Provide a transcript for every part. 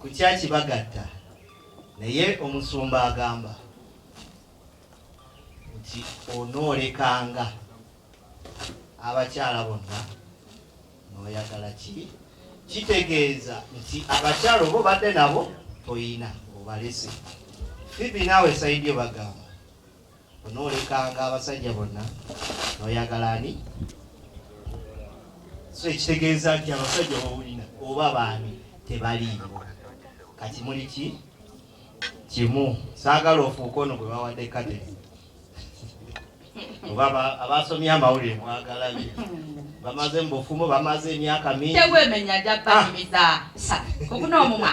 ku kya kibagatta naye omusumba agamba nti onoolekanga abakyala bonna nooyagala ki kitegeeza nti abakyala oba obadde nabo toyina obalese fibi naawe saidi yo bagamba Onoolekanga abasajja bonna n'oyagala ani? So ekitegeeza nti abasajja bawulina oba baani tebaliiwo. Kati muli ki kimu, saagala ofuuka ono gwe bawadde kate oba abaasomye amawulire mwagala bye bamaze mu bufumu bamaze emyaka mingi. Tewemenya jja banyumiza ah. sa okuna omumwa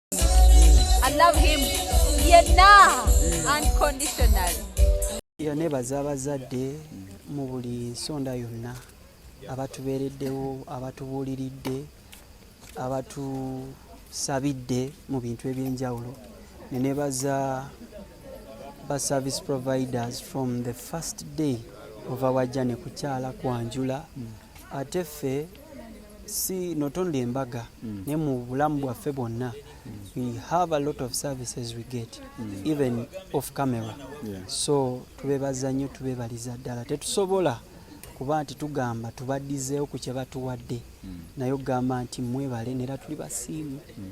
I love him yenna unconditional era nebaza abazadde mu buli nsonda yonna abatubeereddewo abatubuuliridde abatusabidde mu bintu ebyenjawulo nenebaza ba service providers from the first day ova wajja nekukyala kwanjula ate ffe si not only embaga mm. ne mu bulamu bwaffe bwonna mm. we have a lot of services we get mm. even off camera yeah. so tubebaza nnyo tubebaliza ddala tetusobola kuba nti tugamba tubaddizeewo ku kye batuwadde mm. naye okugamba nti mwebale nera tuli basiimu mm.